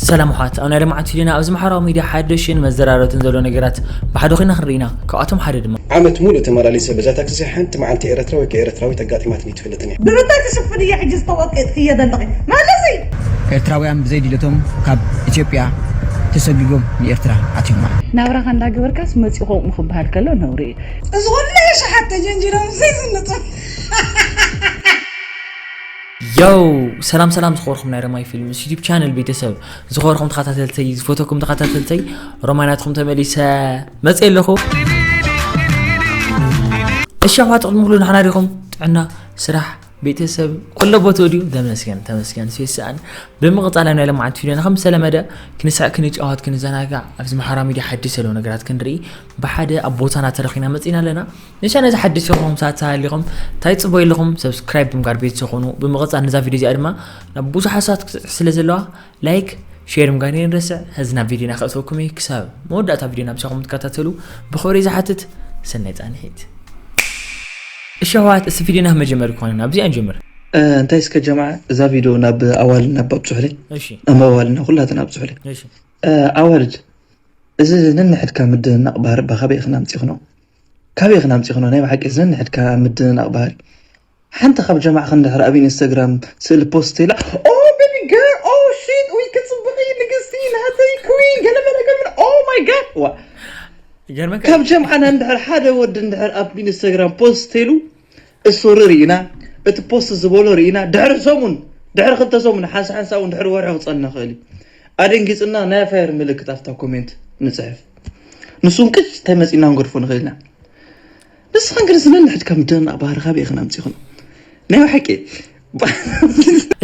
ሰላም ኣሕዋት ኣብ ናይ ልምዓት ቪድዮና ኣብዚ ማሕበራዊ ሚድያ ሓደሽን መዘራረብትን ዘሎ ነገራት ብሓደ ኮይና ክንርኢ ኢና ካብኣቶም ሓደ ድማ ዓመት ሙሉእ ተማላሊሰ በዛ ታክሲ ሓንቲ መዓልቲ ኤረትራ ወይ ከኣ ኤረትራዊት ኣጋጢማትኒ ኣይትፈልጥን እያ። ብምንታይ ትሽፍን እየ ሕጂ ዝተወቅጥክዮ ዘለኺ መልሲ። ኤርትራውያን ብዘይ ድሌቶም ካብ ኢትዮጵያ ተሰጉጎም ንኤርትራ ኣትዮም ኣለው። ናብራኻ እንዳ ገበርካስ መጺኡ ከምኡ ክብሃል ከሎ ነውሪ እዩ። እዚ ኩሉ የሽሓት ተጀንጂሮም ዘይዝንጥፍ። ዮው ሰላም ሰላም ዝኸበርኩም ናይ ረማይ ፊልምስ ዩቲብ ቻነል ቤተሰብ ዝኸበርኩም ተኸታተልተይ ዝፈተኩም ተኸታተልተይ ሮማናትኩም ተመሊሰ መፅእ ኣለኹ እሺ ኣሕዋት ቅድሚ ኩሉ ንሕና ዲኹም ጥዕና ስራሕ ቤተሰብ ኩሎ ቦትኡ ድዩ ተመስገን ተመስገን ስይስኣን ብምቕፃል ናይ ልምዓት ቪድዮና ከም ዝተለመደ ክንስዕ ክንጫወት ክንዘናጋዕ ኣብዚ ማሕበራዊ ሚድያ ሓድሽ ዘለዉ ነገራት ክንርኢ ብሓደ ኣብ ቦታና ተረኺና መፂና ኣለና ንቻነል እዚ ሓድሽ ዝኾንኩም ሰባት ተሃሊኹም እንታይ ጽቦ ኣለኹም ሰብስክራይብ ብምግባር ቤተሰብ ኾኑ ብምቕጻል ነዛ ቪድዮ እዚኣ ድማ ናብ ብዙሓት ሰባት ክትብጽሕ ስለ ዘለዋ ላይክ ሼር ምጋር ንረስዕ ሕዚ ናብ ቪድዮና ክእትወኩም እዩ ክሳብ መወዳእታ ቪድዮና ምሳኹም ትከታተሉ ብኽብሪ ዝሓትት ሰናይ ጻንሒት እሺ ኣሕዋት እስቲ ቪድዮና መጀመሪ ክኾነ ናብዚኣ ንጀምር እንታይ እስከ ጀማዓ እዛ ቪድዮ ናብ ኣዋልና ባ ኣብፅሑለይ ናብ ኣዋልና ኩላትና ኣብፅሑለይ ኣዋልድ እዚ ነንሕድካ ምድንናቕ ባህሪ ባኻበይ ኢኽና ኣምፂኽኖ ካበይ ኢኽን ኣምጺኽንኦ ናይ ብሓቂ ዘንሕድካ ኣብ ምድንናቕ ባህሪ ሓንቲ ካብ ጀማዕኽን እንድሕር ኣብ ኢንስታግራም ስእሊ ፖስት ተይላ ኦህ ቤቢ ገርል ኦህ ሺት ኡይ ክትጽብቒ ንግስቲ ናተይ ኩዊን ገለ መለ ገለ መለ ኦህ ማይ ጋድ ዋ ይገርመካ ካብ ጀምዓና እንድሕር ሓደ ወዲ እንድሕር ኣብ ኢንስታግራም ፖስት ተይሉ እሱሪ ሪኢና እቲ ፖስት ዝበሎ ሪኢና ድሕሪ ሰሙን ድሕሪ ክልተ ሰሙን ሓንሳ ሓንሳ ውን ድሕሪ ወርሒ ክጸልና ይኽእል እዩ ኣደንጊጽና ናይ ፋየር ምልክት ኣብታ ኮሜንት ንጽሕፍ ንሱ ውን ቅጭ እንታይ መጺእና ክንገድፎ ንኽእል ኢና ንስኽን ግንስ ነንሕድካ ምድንናቕ ባህሪ ካበይ ኢኽን ኣምጺኽንኦ ናይ ብሓቂ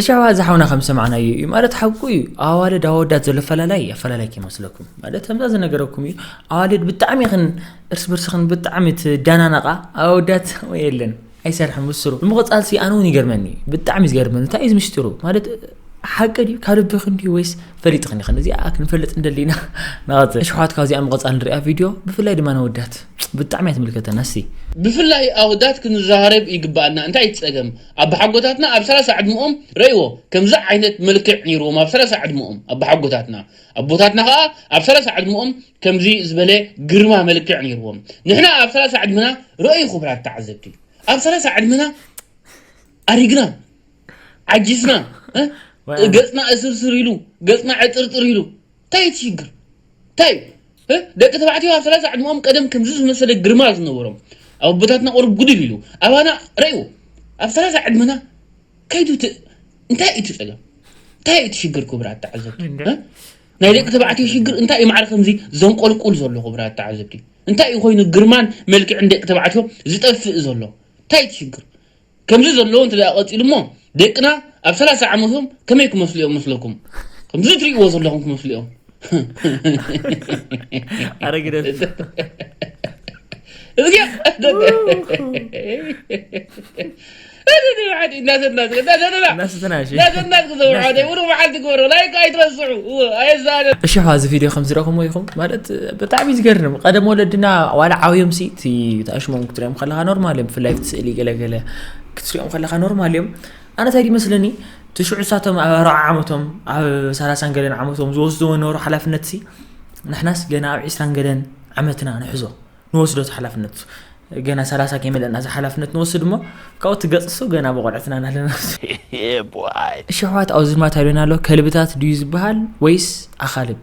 እሻዋ እዚ ሓውና ከም ሰማዕናዮ እዩ ማለት ሓቁ እዩ ኣዋልድ ኣወዳት ዘሎ ፈላላይ ኣፈላላይ ከይመስለኩም ማለት ከምዛ ዝነገረኩም እዩ ኣዋልድ ብጣዕሚ ይኽን እርስ በርስኽን ብጣዕሚ ትዳናነቓ ኣወዳት ወይ የለን ኣይሰርሕን ምስሩ ንምቕፃል ሲ ኣነ እውን ይገርመኒ ብጣዕሚ ዝገርመኒ እንታይ እዩ ዝምስጢሩ ማለት ሓቂ ድዩ ካብ ልብኽን ድዩ ወይስ ፈሊጥኽን ኢኽን እዚኣ ክንፈልጥ እንደሊ ኢና ንቐፅል ኣሽሓት ካብዚኣ ምቐፃል ንሪኣ ቪድዮ ብፍላይ ድማ ነወዳት ብጣዕሚ እያ ትምልከተና ሲ ብፍላይ ኣወዳት ክንረሃረብ ይግባኣና እንታይ እዩ ፀገም ኣባሓጎታትና ኣብ ሰላሳ ዕድምኦም ረእዎ ከምዚ ዓይነት መልክዕ ኔርዎም ኣብ ሰላሳ ዕድምኦም ኣባሓጎታትና ኣቦታትና ከኣ ኣብ ሰላሳ ዕድምኦም ከምዚ ዝበለ ግርማ መልክዕ ኔርዎም ንሕና ኣብ ሰላሳ ዕድምና ረእዩ ክቡራት ተዓዘብቲ ኣብ ሰላሳ ዕድምና ኣሪግና ዓጂስና ገጽና እስርስር ኢሉ ገጽና ዕጥርጥር ኢሉ እንታይ እቲ ሽግር ታይ እ ደቂ ተባዕትዮ ኣብ ሰላሳ ዕድመኦም ቀደም ከምዚ ዝመሰለ ግርማ ዝነበሮም ኣብ ኣቦታትና ቁሩብ ጉድል ኢሉ ኣባና ረእዎ ኣብ ሰላሳ ዕድመና ከይዱ እቲ እንታይ እዩ እቲ ጸገም እንታይ እዩ እቲ ሽግር ክቡራት ተዓዘብቲ እ ናይ ደቂ ተባዕትዮ ሽግር እንታይ እዩ ማዕረ ከምዚ ዘንቆልቁል ዘሎ ክቡራት ተዓዘብቲ እንታይ እዩ ኮይኑ ግርማን መልክዕን ደቂ ተባዕትዮ ዝጠፍእ ዘሎ እንታይ እቲ ሽግር ከምዚ ዘሎ እንተ ቀጺሉሞ ደቅና ኣብ ሰላሳ ዓመቶም ከመይ ክመስሉ እዮም መስለኩም? ከምዚ ትርእይዎ ዘለኹም ክመስሉ እዮም። ኣረግደስ እዚኣ እሽሖ እዚ ቪድዮ ከም ዝረኸሞ ይኹም ማለት ብጣዕሚ ዝገርም ቀደም ወለድና ዋላ ዓብዮም ሲ እቲ ተኣሽሞም ክትሪኦም ከለካ ኖርማል እዮም ብፍላይ ስእሊ ገለ ገለ ክትሪኦም ከለካ ኖርማል እዮም ኣነ ታይ ይመስለኒ ትሽዑ ሳቶም ኣብ ኣርዓ ዓመቶም ኣብ ሰላሳን ገለን ዓመቶም ዝወስድዎ ነበሩ ሓላፍነት ሲ ንሕናስ ገና ኣብ ዒስራን ገለን ዓመትና ንሕዞ ንወስዶ ሓላፍነት ገና ሰላሳ ከይመለና እዚ ሓላፍነት ንወስድ እሞ ካብኡ ትገፅሱ ገና ብቆልዕትና ናለና እሺ ኣሕዋት ኣብዚ ድማ ታይሎና ኣሎ ከልብታት ድዩ ዝበሃል ወይስ ኣኻልብ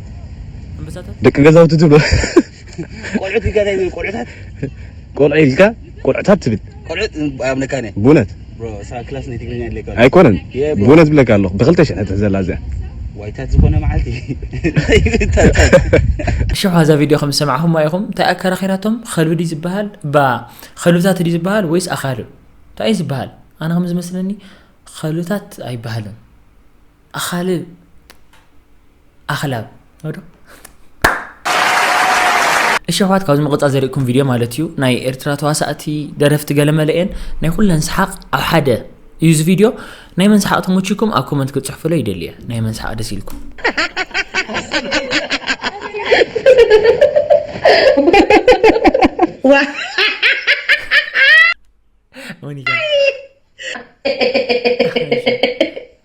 ደቂ ገዛውቲ ትብሎ ቆልዑት ኢልካ እንታይ ዝብል ቆልዑታት ቆልዑ ኢልካ ቆልዑታት ትብል ቆልዑት ኣብ ነካነ ብእውነት ክላስ ናይ ትግርኛ ኣለካ ኣይኮነን ብእውነት ብለካ ኣለኹ ብክልተ ሽሕ ትሕዘላ እዚኣ ዋይታት ዝኾነ መዓልቲ ሽሕ ዋዛ ቪድዮ ከም ዝሰማዕኹም ኢኹም እንታይ ኣከራኺራቶም ከልቢ ድዩ ዝበሃል እባ ከልብታት ድዩ ዝበሃል ወይስ ኣኻልብ እንታይ እዩ ዝበሃል ኣነ ከም ዝመስለኒ ከልብታት ኣይበሃልን ኣኻልብ ኣኽላብ ዶ እሺ ኣሕዋት ካብዚ መቐፃ ዘርእኩም ቪድዮ ማለት እዩ ናይ ኤርትራ ተዋሳእቲ ደረፍቲ ገለመለ እየን ናይ ኩለን ሰሓቕ ኣብ ሓደ እዩ እዚ ቪድዮ ናይ መን ሰሓቕ ተመችኩም ኣብ ኮመንት ክትፅሕፍሎ ይደሊ እየ ናይ መን ሰሓቕ ደስ ኢልኩም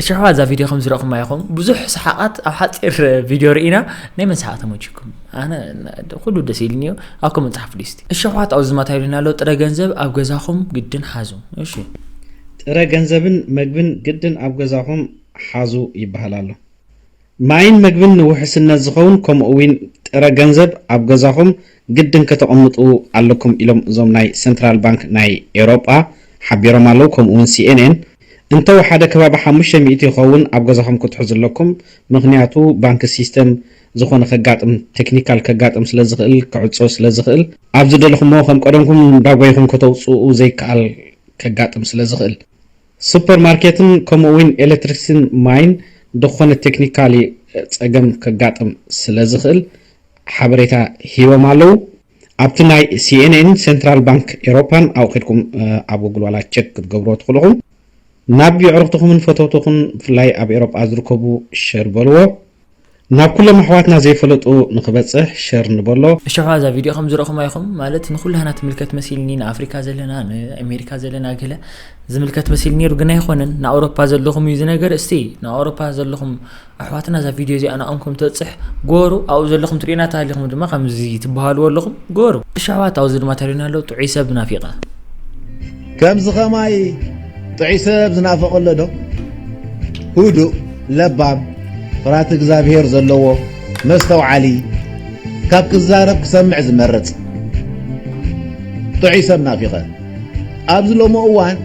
እሽሕዋ እዛ ቪድዮ ከም ዝረእኹማ ይኹም ብዙሕ ሰሓቓት ኣብ ሓፂር ቪድዮ ርኢና ናይ መን ሰሓቕ ተመችኩም ኣነ ኩሉ ደስ ኢልኒ እዩ ኣብ ኮመንት ፃሓፉ ሊስቲ እሽሕዋት ኣብዚ ዝማታ ኢሉና ኣሎ ጥረ ገንዘብ ኣብ ገዛኹም ግድን ሓዙ እሺ ጥረ ገንዘብን መግብን ግድን ኣብ ገዛኹም ሓዙ ይበሃል ኣሎ ማይን መግብን ንውሕስነት ዝኸውን ከምኡ እዊን ጥረ ገንዘብ ኣብ ገዛኹም ግድን ከተቐምጡ ኣለኩም ኢሎም እዞም ናይ ሰንትራል ባንክ ናይ ኤውሮጳ ሓቢሮም ኣለው ከምኡ እውን ሲኤንኤን እንተ ወሓደ ከባቢ ሓሙሽተ ሚእቲ ይኸውን ኣብ ገዛኹም ክትሕዙ ኣለኩም ምኽንያቱ ባንክ ሲስተም ዝኾነ ከጋጥም ቴክኒካል ከጋጥም ስለ ዝኽእል ክዕጾ ስለ ዝኽእል ኣብ ዝደለኹምዎ ከም ቀደምኩም እንዳጎይኹም ከተውጽኡ ዘይከኣል ከጋጥም ስለ ዝኽእል። ሱፐር ማርኬትን ከምኡ እውን ኤሌክትሪክሲቲን ማይን ድኾነ ቴክኒካሊ ፀገም ከጋጥም ስለዝኽእል ሓበሬታ ሂቦም ኣለው። ኣብቲ ናይ ሲኤንኤን ሴንትራል ባንክ ኤሮፓን ኣብኡ ከድኩም ኣብ ጉግል ዋላ ቸክ ክትገብርዎ ትኽእሉ ኢኹም። ናብ የዕሩኽትኹምን ፈተውትኹን ብፍላይ ኣብ ኤሮጳ ዝርከቡ ሸር በልዎ። ናብ ኩሎም ኣሕዋትና ዘይፈለጡ ንክበጽሕ ሸር ንበሎ። እሾሖ እዛ ቪድዮ ከም ዝረእኹማ ኢኹም ማለት ንኹላህና ትምልከት መሲልኒ ንኣፍሪካ ዘለና ንኣሜሪካ ዘለና ገለ ዝምልከት መሲል ነይሩ ግን ኣይኾነን ንኣውሮፓ ዘለኹም እዩ ዝነገር እስቲ ንኣውሮፓ ዘለኹም ኣሕዋትና እዛ ቪድዮ እዚኣ ንኣኦም ከም ትበፅሕ ጎሩ ኣብኡ ዘለኹም ትሪእና ተሃሊኹም ድማ ከምዚ ትበሃልዎ ኣለኹም ጎሩ እሺ ኣሕዋት ኣብዚ ድማ ተሪና ኣሎ ጥዑይ ሰብ ናፊቐ ከምዚ ከማይ ጥዑይ ሰብ ዝናፈቅ ኣሎ ዶ? ሁዱእ ለባም ፍርሃት እግዛብሄር ዘለዎ መስተውዓሊ ካብ ክዛረብ ክሰምዕ ዝመርጽ ጥዑይ ሰብ ናፊቀ ኣብዚ ሎሚ እዋን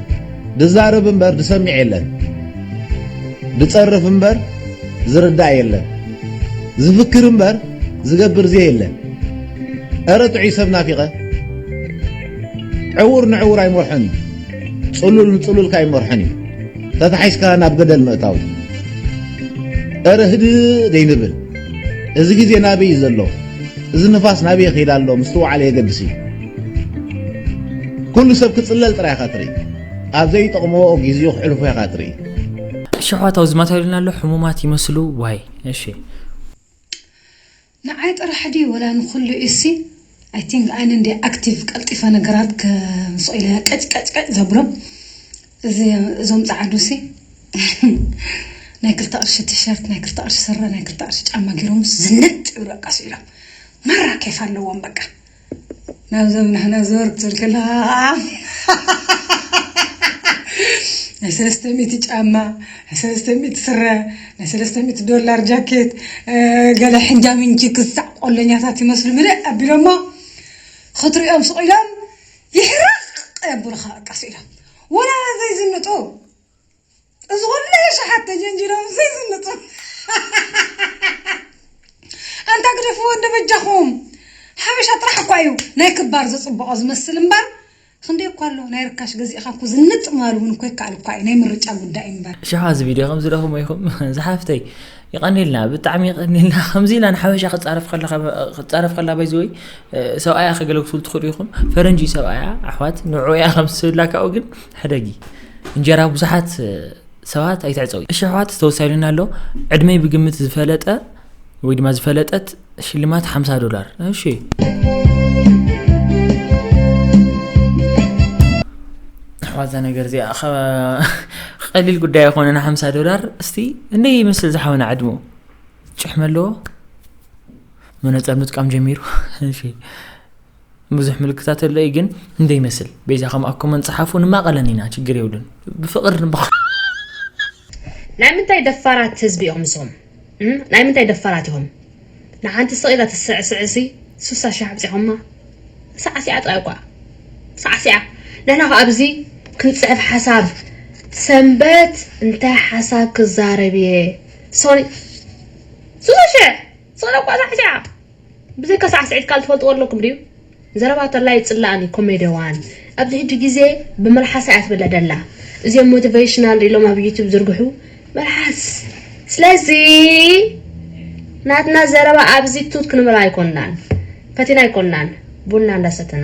ድዛረብ እምበር ድሰሚዕ የለን ድጸርፍ እምበር ዝርዳእ የለን ዝፍክር እምበር ዝገብር ዘየለ እረ ጥዑይ ሰብ ናፊቀ። ዕዉር ንዕዉር ኣይመርሖን እዩ ጽሉል ንጽሉል ከኣ ኣይመርሖን እዩ ተታሒዝካ ናብ ገደል ምእታው እዩ እረ ህድእ ደይንብል እዚ ግዜ ናበይ እዩ ዘሎ እዚ ንፋስ ናበይ ይኸይድ ኣሎ ምስትውዓል የገድስ እዩ ኩሉ ሰብ ክጽለል ጥራይ ኢኻ ትርኢ ኣብ ዘይጠቕሞ ግዜኡ ክሕልፎ ኢኻ ትርኢ ሽሖት ኣውዝማት ኣይሉና ኣሎ ሕሙማት ይመስሉ ዋይ እሺ ንዓይ ጥራሕ ድዩ ወላ ንኩሉ እዩሲ ኣይ ቲንግ ኣነ እንድየ ኣክቲቭ ቀልጢፈ ነገራት ከምስኦ ኢለ ቀጭቀጭቀጭ ዘብሎ እዚ እዞም ጸዓዱሲ ናይ ክልተ ቅርሺ ቲሸርት ናይ ክልተ ቅርሺ ስረ ናይ ክልተ ቅርሺ ጫማ ጌሮምስ ዝንጥ ይብሉ በቃ ስኢሎም ማራ ኬፍ ኣለዎም በቃ ናብዞም ንሕና ዘወር ክትብል ከለኻ ከዓ ናይ ሰለስተ ሚእቲ ጫማ ናይ ሰለስተ ሚእቲ ስረ ናይ ሰለስተ ሚእቲ ዶላር ጃኬት ገለ ሕንጃምንጂ ክሳዕ ቆለኛታት ይመስሉ ምልእ ኣቢሎሞ ክትሪኦም ስቕ ኢሎም ይሕረቕ የብሉኻ በቃ ስኢሎም ወላ ዘይዝንጡ እዚ ኩሉ የሽሓት ተጀንጂሮም ዘይዝንጡ ኣንታ ግደፍዎ እንዶ በጃኹም ሓበሻ ጥራሕ እኳ እዩ ናይ ክባር ዘጽብቆ ዝመስል እምበር ክንደይ እኳ ኣሎ ናይ ርካሽ ገዚእኻ እኮ ዝንጥ ምባል እውን እኮ ይከኣል እኳ እዩ ናይ ምርጫ ጉዳይ እምበር ሸዋ እዚ ቪድዮ ከምዚ ደኹም ኢኹም ዝሓፍተይ ይቀኒልና ብጣዕሚ ይቀኒልና ከምዚ ኢላ ንሓበሻ ክፃረፍ ከለካ ክፃረፍ ከላ ባይዚ ወይ ሰብኣያ ከገለግስሉ ትኽእሉ ኢኹም ፈረንጂ ሰብኣያ ኣሕዋት ንዑ እያ ከምስብላ ካብኡ ግን ሕደጊ እንጀራ ብዙሓት ሰባት ኣይትዕፀው እሺ ኣሕዋት ዝተወሳኢሉና ኣሎ ዕድመይ ብግምት ዝፈለጠ ወይ ድማ ዝፈለጠት ሽልማት 50 ዶላር እሺ ኣሕዋት እዛ ነገር እዚኣ ቀሊል ጉዳይ ኣይኮነን 50 ዶላር እስቲ እንደ ይመስል ዝሓወና ዕድሙ ጭሕሚ ኣለዎ መነፀር ምጥቃም ጀሚሩ እሺ ብዙሕ ምልክታት ኣሎ እዩ ግን እንደይመስል በይዛኸም ኣብ ኮመን ፀሓፉ ንማቐለን ኢና ችግር የብሉን ብፍቕር ንባ ናይ ምንታይ ደፋራት ህዝቢ ኢኹም ንስኹም ናይ ምንታይ ደፋራት ኢኹም ንሓንቲ ስቕ ኢላ ትስዕስዕሲ ስሳ ሽሕ ኣብፂኹማ ሳዕሲዓ ጥራይ እኳ ሳዕሲዓ ንሕና ኸ ኣብዚ ክንፅሕፍ ሓሳብ ሰንበት እንታይ ሓሳብ ክዛረብ እየ ሶኒ ስሳ ሽሕ ስቕ ኢለ እኳ ሳዕሲዓ ብዘይካ ሳዕስዒት ካልእ ትፈልጥዎ ኣለኩም ድዩ? ዘረባ ተላ ይጽላኣኒ ኮሜደዋን ኣብዚ ሕጂ ግዜ ብመልሓሳ እያ ትብለ ደላ እዚኦም ሞቲቨሽናል ኢሎም ኣብ ዩቱብ ዝርግሑ መልሓስ ስለዚ ናትና ዘረባ ኣብዚ ቱት ክንብል ኣይኮናን ፈቲና ኣይኮናን ቡና እንዳሰተና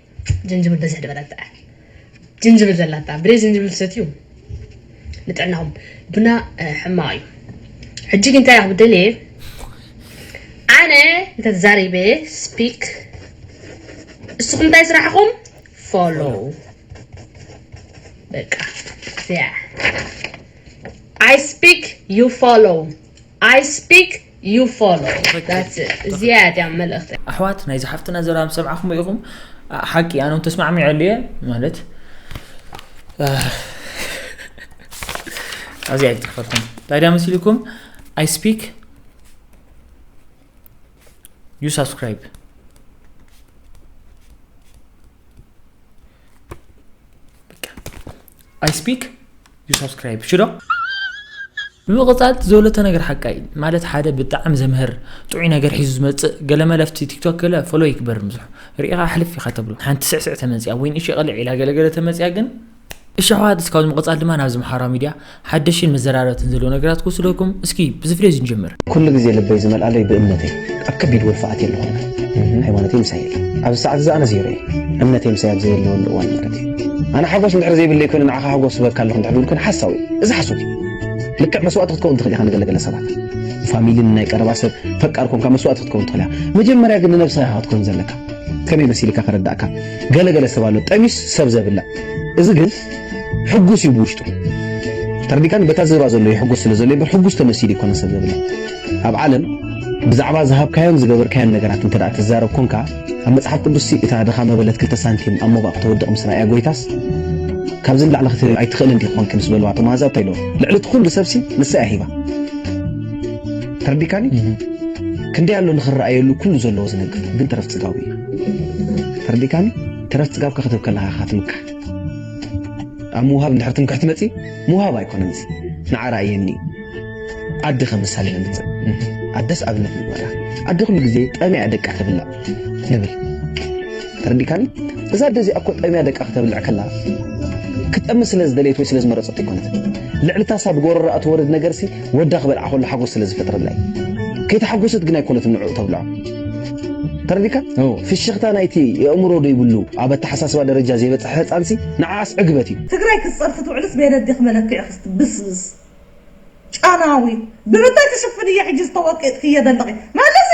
ጅንጅብል በዝሕ ድበላ ጥዕም ጅንጅብል ዘላታ ብደይ ጅንጅብል ሰትዩ ንጥዕናኹም ቡና ሕማቕ እዩ ሕጂ ግን እንታይ ክብደልየ ኣነ እንተተዛሪበ ስፒክ እስኹም እንታይ ስራሕኹም ፎሎ በቃ ያ I speak, you follow. I speak, You follow that's it ዝያዳ መልእኽቲ። ኣሕዋት ናይዛ ሓፍትና ዘረባ ምስ ሰምዓኹሞ ኢኹም ሓቂ ኣነ ውን ተስማዕሚዐሉ እየ ማለት ኣብዚ ኣይትጽሕፈልኩም እንታይ ድያ መሲልኩም ኣይ ስፒክ ዩ ሳብስክራይብ ኣይ ስፒክ ዩ ሳብስክራይብ ሽዶ ብምቕጻል ትዘውለተ ነገር ሓቃይ ማለት ሓደ ብጣዕሚ ዘምህር ጥዑይ ነገር ሒዙ ዝመጽእ ገለመለ ኣብቲ ቲክቶክ ገለ ፎሎ ይግበር ምዝሑ ርኢኻ ኣሕልፍ ኢኻ ተብሎ ሓንቲ ስዕስዕ ተመጽያ ወይ ንእሽ ቐልዕ ኢላ ገለገለ ተመጽያ ግን እሺ ኣሕዋት እስካብ ዝምቕጻል ድማ ናብዚ ማሕበራዊ ሚድያ ሓደሽን መዘራረብትን ዘለዎ ነገራት ክወስደኩም እስኪ ብዝፍለዩ ንጀምር። ኩሉ ግዜ ልበይ ዝመልኣለይ ብእምነተይ። ኣብ ከቢድ ወልፊ ኣትየ ኣለኹ ኣነ ሃይማኖተይ ምሳይ የለን ኣብዚ ሰዓት እዚ ኣነ ዜሮ እየ እምነተይ ምሳይ ኣብ ዘየለወሉ እዋን ማለት እዩ ኣነ ሓጎስ እንድሕር ዘይብለይ ኮይኑ ንዓኻ ሓጎስ ዝበካ ኣለኹ እንድሕር ዝብል ኮይኑ ሓሳዊ እዩ እዚ ሓሶት እዩ ልክዕ መስዋእቲ ክትከውን ትኽእል ኢኻ ንገለገለ ሰባት ፋሚሊን ናይ ቀረባ ሰብ ፈቃር ኮንካ መስዋእቲ ክትከውን ትኽእል ኢኻ መጀመርያ ግን ንነብስኻ ኢኻ ክትከውን ዘለካ ከመይ መሲልካ ከረዳእካ ገለገለ ሰብ ኣሎ ጠሚስ ሰብ ዘብላ እዚ ግን ሕጉስ እዩ ብውሽጡ ተርዲካን በታ ዝብራ ዘሎ ይሕጎስ ስለ ዘሎ እምበር ሕጉስ ተመሲሉ ይኮነ ሰብ ዘብላ ኣብ ዓለም ብዛዕባ ዝሃብካዮን ዝገበርካዮን ነገራት እንተ ትዛረብ ኮንካ ኣብ መጽሓፍ ቅዱስ ሲ እታ ድኻ መበለት ክልተ ሳንቲም ኣብ ሞባእ ክተወድቕ ምስ ረኣያ ጎይታስ ካብዚ ንላዕሊ ክትህብ ኣይትኽእልን ዲኺ ኮንኪ ምስ በልዋ እቶም ኣሕዛብ እንታይ ኢልዎም ልዕሊ እቲ ኩሉ ሰብሲ ንሳ እያ ሂባ ተርዲካኒ ክንደይ ኣሎ ንኽረኣየሉ ኩሉ ዘለዎ ዝነግር ግን ተረፍ ጽጋቡ እዩ ተርዲካኒ ተረፍ ጽጋብካ ክትህብ ከለኻ ኢኻ ትምካሕ ኣብ ምውሃብ እንድሕር ትምክሕቲ መጺ ምውሃብ ኣይኮነን እዚ ንዓራ እየኒ ኣደ ከም ምሳሌ ነምጽእ ኣደስ ኣብነት ንግበራ ኣደ ኩሉ ግዜ ጠሚያ ደቃ ተብላዕ ንብል ተረዲካኒ እዛ ኣደ እዚኣ እኮ ጠሚያ ደቃ ክተብልዕ ከላ ክትጠሚ ስለ ዝደለየት ወይ ስለ ዝመረጸት ኣይኮነት ልዕልታሳ ብጎረራኣ ትወርድ ነገርሲ ወዳ ክበልዓ ከሎ ሓጎስ ስለ ዝፈጥረላ እዩ ከይተሓጎሰት ግን ኣይኮነትን ንዕኡ ተብልዖ ተረዲካ ፍሽኽታ ናይቲ የእምሮ ዘይብሉ ኣብ ኣተሓሳስባ ደረጃ ዘይበፅሐ ህፃንሲ ንዓኣስ ዕግበት እዩ ትግራይ ክትፀርፊ ትውዕልስ በየነዲኺ መለክዒኺ እስቲ ብስብስ ጨናዊት ብምንታይ ትሽፍንዮ ሕጂ ዝተወቂጥክዮ ዘለኺ መልሲ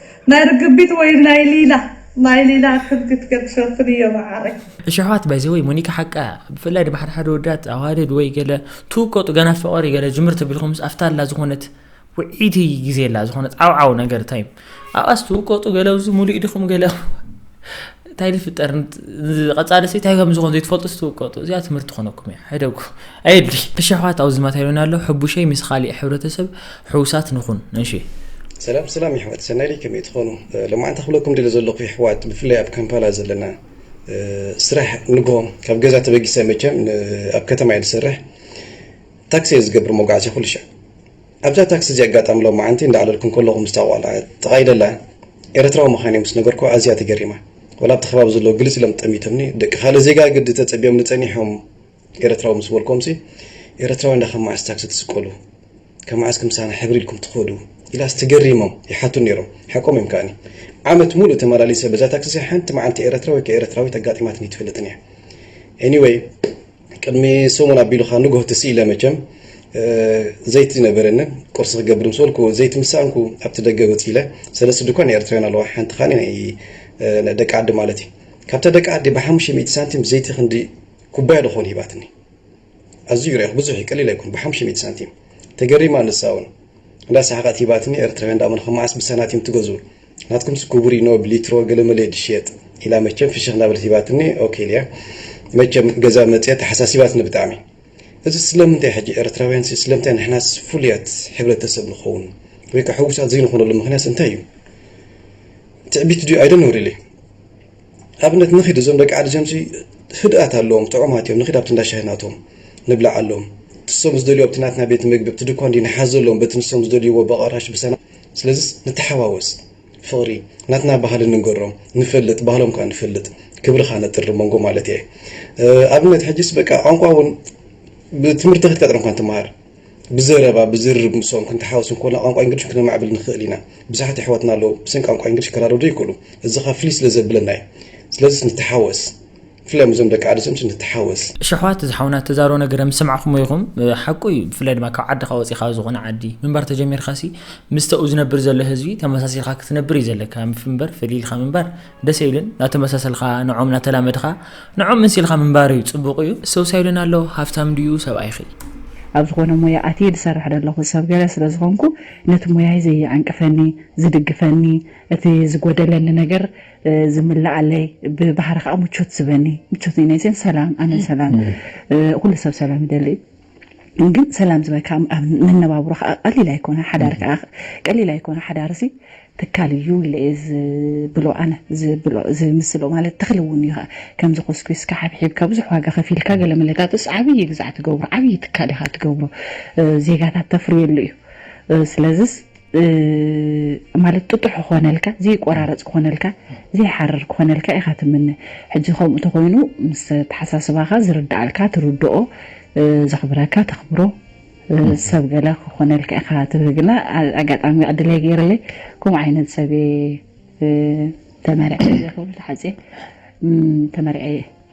ናይ ርግቢት ወይ ናይ ሊላ ናይ ሊላ ክብግት ገብ ሸፍን እዮ መዓረይ። እሺ ኣሕዋት ባይ ዘ ወይ ሞኒካ ሓቃ እያ ብፍላይ ድማ ሓደ ሓደ ወዳት ኣዋልድ ወይ ገለ ትውቀጡ ገና ፍቅሪ ገለ ጅምር ተቢልኩምስ ኣፍታ ኣላ ዝኾነት ውዒቲ ግዜ ኣላ ዝኾነት ዓውዓው ነገር ታይም ኣብኣስ ትውቀጡ ገለ ኣብዚ ሙሉእ ኢድኹም ገለ እንታይ ዝፍጠር ንቐፃሊ ሲ እንታይ ከም ዝኾን ዘይትፈልጡ ስትውቀጡ እዚኣ ትምህርቲ ትኾነኩም እያ ሕደጉ ኣየድሊ እሺ ኣሕዋት ኣብዚ ማቴሪያልና ኣሎ ሕቡሸይ ምስ ካሊእ ሕብረተሰብ ሕውሳት ንኹን እሺ ሰላም ሰላም ይሕዋት ሰናይ ደይ ከመይ ትኾኑ ሎማዓንቲ ክብለኩም ደለ ዘለኹ ይሕዋት ብፍላይ ኣብ ካምፓላ ዘለና ስራሕ ንጎ ካብ ገዛ ተበጊሰ መቸም ኣብ ከተማ እየ ዝሰርሕ ታክሲ እየ ዝገብር መጓዓዝያ ኩሉ ሻዕ ኣብዛ ታክሲ እዚኣ ኣጋጣሚ ሎሚ መዓንቲ እንዳዕለልኩ እንከለኹ ምስታ ጓል ጥቓይ ደላ ኤረትራዊ ምኻነይ ምስ ነገርኩዋ ኣዝያ ተገሪማ ወላ ኣብቲ ከባቢ ዘለዉ ግልጽ ኢሎም ጠሚቶምኒ ደቂ ካልእ ዜጋ ግዲ ተጸቢዮምኒ ጸኒሖም ኤረትራዊ ምስ በልኩዎምሲ ኤረትራዊ እንዳ ካብ መዓስ ታክሲ ትስቀሉ ካብ መዓስ ክምሳና ሕብር ኢልኩም ትኸዱ ኢላስ ተገሪሞም ይሓቱኒ ኔሮም ሓቆም እዮም ከኣኒ ዓመት ሙሉእ ተማላሊሰ በዛ ታክሲ እዚኣ ሓንቲ መዓልቲ ኤረትራዊ ወይ ከኣ ኤረትራዊት ኣጋጢማትኒ ኣይትፈልጥን እያ ኤኒወይ ቅድሚ ሰሙን ኣቢሉ ከኣ ንግሆ ትስ ኢለ መቸም ዘይቲ ነበረንን ቁርሲ ክገብር ምስ በልኩ ዘይቲ ምስ ሰኣንኩ ኣብቲ ደገ ወጽ ኢለ ሰለስተ ድኳን ናይ ኤርትራውያን ኣለዋ ሓንቲ ከኣ ናይ ደቂ ዓዲ ማለት እዩ ካብታ ደቂ ዓዲ ብሓሙሽተ ሚእቲ ሳንቲም ዘይቲ ክንዲ ኩባያ ድኾን ሂባትኒ ኣዝዩ ርኢኹ ብዙሕ እዩ ቀሊል ኣይኮን ብሓሙሽተ ሚእቲ ሳንቲም ተገሪማ ንሳውን እንዳ ሰሓቐት ሂባትኒ ኤርትራውያን ደኣ መን ኸማዓስ ብሳናቲም ትገዝኡ ናትኩምስ ኩቡሪኖ ብሊትሮ ገለመለ እዩ ዝሽየጥ ኢላ መቸም ፍሽኽ እናበለት ሂባትኒ ኦኬ ኢልያ መቸም ገዛ መጽያ ተሓሳሲባትኒ ብጣዕሚ እዚ ስለምንታይ ሕጂ ኤርትራውያንሲ ስለምንታይ ንሕናስ ፍሉያት ሕብረተሰብ ንኸውን ወይ ከ ሕውሳት ዘይንኾነሉ ምኽንያትስ እንታይ እዩ ትዕቢት ድዩ ኣይ ዶንት ኖው ሪሊ ኣብነት ንኺድ እዞም ደቂ ዓዲ ጀምሲ ህድኣት ኣለዎም ጥዑማት እዮም ንኺድ ኣብቲ እንዳ ሻሂ ናቶም ንብላዓሎም ትሶም ዝደልዩ ኣብቲ ናትና ቤት ምግቢ ኣብቲ ድኳን ድዩ ንሓዘሎም በቲ ንሶም ዝደልይዎ በቐራሽ ብሰና ስለዝስ ንተሓዋወስ ፍቅሪ ናትና ባህሊ ንንገሮም ንፈልጥ ባህሎም ከኣ ንፈልጥ ክብርኻ ነጥሪ መንጎ ማለት እየ ኣብነት ሕጅስ በቃ ቋንቋ እውን ብትምህርቲ ከድካ ጥረ እንኳን ትመሃር ብዘረባ ብዝርርብ ምሶም ክንተሓወስ እንኮና ቋንቋ እንግሊሽ ክነማዕብል ንኽእል ኢና ብዙሓት ኣሕዋትና ኣለዉ ብስን ቋንቋ እንግሊሽ ክራደዱ ይክእሉ እዚ ከኣ ፍልይ ስለ ዘብለና እዩ ስለዝስ ንተሓወስ ብፍላይ ምስዞም ደቂ ዓዲ ሰምሲ ንተሓወስ። እሺ ኣሕዋት ዝሓውና ተዛሮ ነገረ ምስ ሰማዕኩሞ ኢኩም ሓቁ እዩ ብፍላይ ድማ ካብ ዓድካ ወጺካ ዝኮነ ዓዲ ምንባር ተጀሚርካ ሲ ምስቲ ኣብኡ ዝነብር ዘሎ ህዝቢ ተመሳሲልካ ክትነብር እዩ ዘለካ እምበር ፈሊልካ ምንባር ደስ ኣይብልን ናተመሳሰልካ ንዖም ናተላመድካ ንዖም ምንሲልካ ምንባር እዩ ጽቡቁ እዩ ሰውሳይ ሉና ኣሎ ሃፍታም ድዩ ሰብኣይኪ። ኣብ ዝኾነ ሞያ ኣትየ ዝሰርሕ ደለኹ ሰብ ገለ ስለ ዝኾንኩ ነቲ ሞያይ ዘይዕንቅፈኒ ዝድግፈኒ እቲ ዝጎደለኒ ነገር ዝምልኣለይ ብባህሪ ከዓ ምቾት ዝበኒ ምቾት ናይ ሴን ሰላም ኣነ ሰላም ኩሉ ሰብ ሰላም ይደሊ እዩ ግን ሰላም ዝበካ ኣብ መነባብሮ ከዓ ቀሊል ኣይኮነ ሓዳር ከዓ ቀሊል ኣይኮነ ሓዳር ሲ ትካል እዩ ኢለ እየ ዝብሎ ኣነ ዝብሎ ዝምስሎ ማለት ተኽሊ እውን እዩ ከዓ ከምዚ ኮስኪስካ ሓብሒብካ ብዙሕ ዋጋ ከፊልካ ገለ መለታትስ ዓብዪ ግዛዕ ትገብሮ ዓብዪ ትካል ኢኻ ትገብሮ ዜጋታት ተፍርየሉ እዩ ስለዚስ ማለት ጥጡሕ ክኾነልካ ዘይቆራረፅ ክኾነልካ ዘይሓርር ክኾነልካ ኢኻ ትምነ ሕጂ ከምኡ ተኾይኑ ምስ ተሓሳስባኻ ዝርዳኣልካ ትርድኦ ዘኽብረካ ተኽብሮ ሰብ ገለ ክኾነልካ ኢኻ ትብህ ግና ኣጋጣሚ ዕድለይ ገይርለይ ከምኡ ዓይነት ሰብየ ተመርዐ ክብል ተሓፅየ ተመርዐየ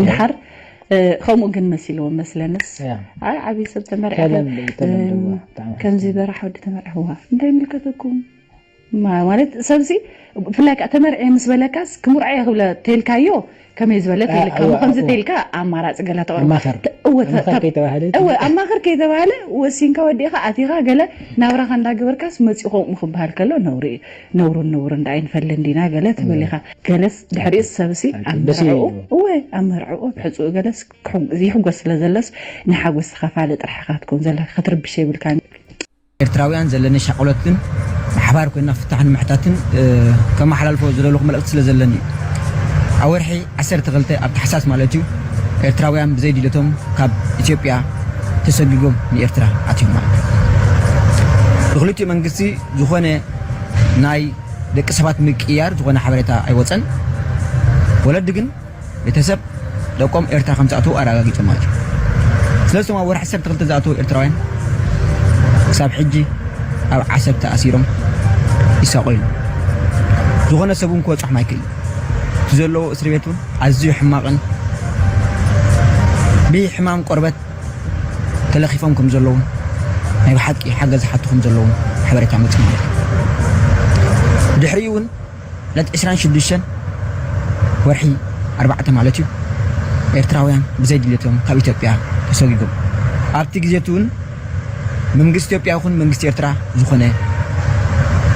እንድሓር ከምኡ ግን መሲልዎም መስለንስ ኣይ ዓብዪ ሰብ ተመርዐ ከምዚ በራሕ ወዲ ተመርዐዋ እንታይ ምልከተኩም ማለት ሰብሲ ብፍላይ ከዓ ተመርዐ ምስ በለካስ ክምርዐ ክብለ ተልካዮ ከመይ ዝበለ ተልካ ከምዚ ተልካ ኣማራፂ ገለ ተቕርብ ኣማኽር ከይተባህለ ወሲንካ ወዲእኻ ኣቲኻ ገለ ናብራኻ እንዳገበርካስ መፂኡ ከምኡ ክበሃል ከሎ ነውሪ እዩ ነውርን ንቡርን ደኣ ኣይንፈልን ዲና ገለ ትብል ኢኻ። ገለስ ድሕሪኡስ ሰብሲ ኣብ ደስ መርዕኡ ይብል እዩ። እወ ኣብ መርዕኡ ኣብ ሕጽኡ ገለስ ክሕጉ ይሕጎስ ስለ ዘሎስ ንሓጎስ ተኻፋሊ ጥራሕ ኢኻ ክትኮን ዘለካ ክትርብሽ የብልካን። ኤርትራውያን ዘለኒ ሻቕሎት ግን ብሓባር ኮይንና ፍታሕ ንምሕታትን ከመሓላልፎ ዝደለኹ መልእኽቲ ስለ ዘለኒ እዩ። ኣብ ወርሒ ዓሰርተ ክልተ ኣብ ታሕሳስ ማለት እዩ ኤርትራውያን ብዘይ ድልየቶም ካብ ኢትዮጵያ ተሰጊጎም ንኤርትራ ኣትዮም ማለት እዩ። ንኽልቲኡ መንግስቲ ዝኾነ ናይ ደቂ ሰባት ምቅይያር ዝኾነ ሓበሬታ ኣይወፀን። ወለዲ ግን ቤተሰብ ደቆም ኤርትራ ከም ዝኣተዉ ኣረጋጊፆም ማለት እዩ። ስለዚ እቶም ኣብ ወርሒ ዓሰርተ ክልተ ዝኣተዉ ኤርትራውያን ክሳብ ሕጂ ኣብ ዓሰብ ተኣሲሮም ይሳቐዩ ኣለዉ። ዝኾነ ሰብ እውን ክበፅሖም ኣይክእልን። እቲ ዘለዎ እስርቤት እውን ኣዝዩ ሕማቕን ብሕማም ቆርበት ተለኺፎም ከም ዘለዉን ናይ ብሓቂ ሓገዝ ዝሓቱ ከም ዘለዉን ሓበሬታ መጺኡና ኣሎ። ብድሕሪኡ'ውን ዕለት ዕስራን ሽዱሽተን ወርሒ ኣርባዕተ ማለት እዩ ኤርትራውያን ብዘይ ድሌቶም ካብ ኢትዮጵያ ተሰጒጎም ኣብቲ ግዜ'ቲ'ውን መንግስቲ ኢትዮጵያ ይኹን መንግስቲ ኤርትራ ዝኾነ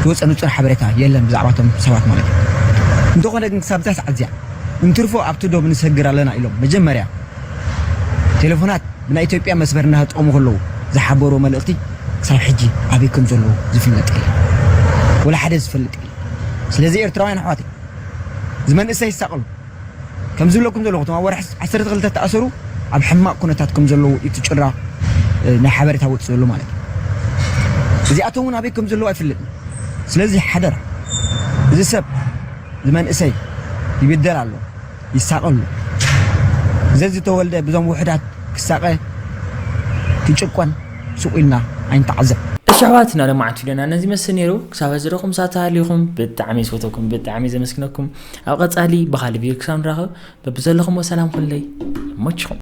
ዝወጸ ንጹር ሓበሬታ የለን ብዛዕባቶም ሰባት ማለት እዩ። እንተኾነ ግን ክሳብ እዛ ሰዓት እዚኣ እንትርፎ ኣብቲ ዶብ ንሰግር ኣለና ኢሎም መጀመርያ ቴለፎናት ብናይ ኢትዮጵያ መስመር እናተጠቐሙ ከለዉ ዝሓበርዎ መልእኽቲ ክሳብ ሕጂ ኣበይ ከም ዘለዉ ዝፍለጥ የለን። ወላ ሓደ ዝፈልጥ የለን። ስለዚ ኤርትራውያን ኣሕዋተይ እዚ መንእሰይ ይሳቐሉ ከም ዝብለኩም ዘለኹ እቶም ኣብ ወርሒ ዓሰርተ ክልተ ዝተኣሰሩ ኣብ ሕማቕ ኩነታት ከም ዘለዉ እዩ እቲ ጭራ ናይ ሓበሬታ ወጺኡ ዘሎ ማለት እዩ። እዚኣቶም እውን ኣበይ ከም ዘለዉ ኣይፍለጥን። ስለዚ ሓደራ እዚ ሰብ እዚ መንእሰይ ይብደል ኣሎ ይሳቐ ኣሎ ዘዝተወልደ ብዞም ውሑዳት ክሳቐ ክጭቆን ሱቕ ኢልና ኣይንተዓዘብ። እሺ ኣሕዋትና ለማዓት ቪድዮና ነዚ ይመስል ነይሩ ክሳብ ሕዚ ርኹም ሳት ተሃሊኹም ብጣዕሚ ዝፈተኩም ብጣዕሚ ዘመስግነኩም ኣብ ቐጻሊ ብኻሊ ቪድዮ ክሳብ ንራኸብ በብዘለኹሞ ሰላም ኹንለይ ይመችኹም